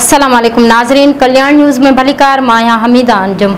السلام عليڪم ناظرين ڪلياڻ نيوز ۾ ڀليڪار مان آهيان حميده انجم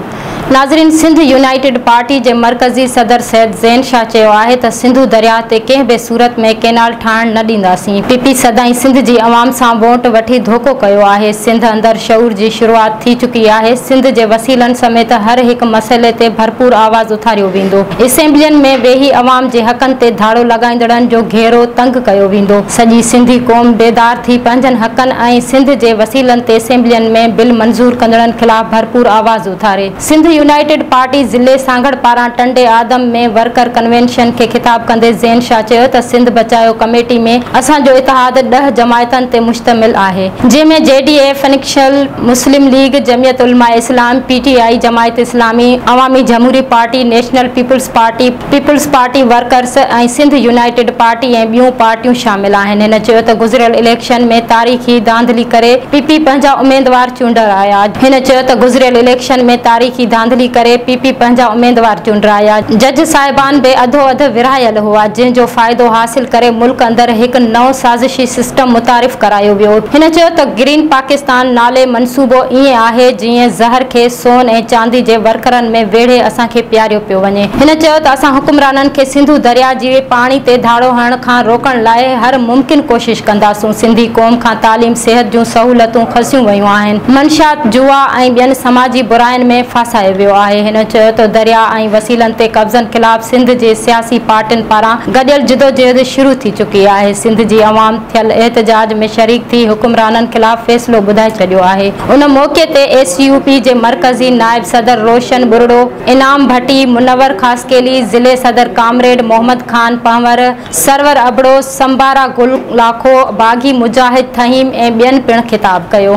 ناظرين سنڌ يونائيٽيڊ پارٽي جي مرڪزي صدر سيد زين شاهه چيو آهي ته سنڌو درياهه تي ڪنهن به صورت ۾ ڪينال ٺاهڻ نه ڏينداسين. پي پي سدائين سنڌ جي عوام سان ووٽ وٺي ڌوڪو ڪيو آهي، سنڌ اندر شعور جي شروعات ٿي چڪي آهي، سنڌ جي وسيلن سميت هر هڪ مسئلي تي ڀرپور آواز اٿاريو ويندو، اسيمبلين ۾ ويهي عوام جي حقن تي ڌاڙو لڳائيندڙن جو گهيرو تنگ ڪيو ويندو، سڄي سنڌي قوم بيدار ٿي پنهنجن حقن ۽ سنڌ جي وسيلن تي اسيمبلين ۾ بل منظور ڪندڙن خلاف ڀرپور آواز اٿاري. سنڌ يونائيٽيڊ پارٽي ضلعي سانگهڙ پاران ٽنڊي آدم ۾ ورڪر ڪنوينشن کي خطاب ڪندي زين شاهه چيو ته سنڌ بچايو ڪميٽي ۾ اسان جو اتحاد ڏهه جماعتن تي مشتمل آهي جنهن ۾ G D A, functional, Muslim League, Jamiat Ulema Islam, P T I, Jamaat Islami, Awami Jamhoori Party, National Peoples Party, Peoples Party Workers ۽ Sindh United Party ۽ ٻيون پارٽيون شامل آهن. هن چيو ته گذريل اليڪشن ۾ تاريخي ڌانڌلي ڪري پي پي پنهنجا اميدوار چونڊرايا. هن چيو ته گذريل اليڪشن ۾ تاريخي ڌانڌلي ڪري پي پي پنهنجا اميدوار چونڊرايا. جج صاحبان به اڌو اڌ ورهايل هئا جنهن جو فائدو حاصل ڪري ملڪ اندر هڪ نئون سازشي سسٽم متعارف ڪرايو ويو. هن چيو ته گرين پاڪستان نالي منصوبو ائين آهي جيئن زهر کي سون ۽ چاندي جي ورڪرن ۾ ويڙهي اسان کي پياريو پيو وڃي. هن چيو ته اسان حڪمرانن کي سنڌو درياء جي پاڻي تي ڌاڙو هڻڻ کان روڪڻ لاء هر ممڪن ڪوشش ڪنداسون، سنڌي قوم کان تعليم، صحت جون سهولتون کسيون ويون آهن، منشيات، جوا ۽ ٻين سماجي براين ۾ ڦاسايو ويو آهي، هن چيو ته درياء ۽ وسيلن تي قبضن خلاف سنڌ جي سياسي پارٽين پاران گڏيل جدوجهد شروع ٿي چڪي آهي، سنڌ جي عوام ٿيل احتجاج ۾ شريڪ ٿي حڪمرانن خلاف فيصلو ٻڌائي ڇڏيو آهي، ان موقعي تي ايس يو پي جي مرڪزي نائب صدر روشن ٻرڙو. انعام ڀٽي، منور خاصخيلي، ضلعي صدر ڪامريڊ محمد خان پنهور، سرور ابڙو، سمبارا گل لاکو، باغي مجاهد ٿهيم ۽ ٻين پڻ خطاب ڪيو.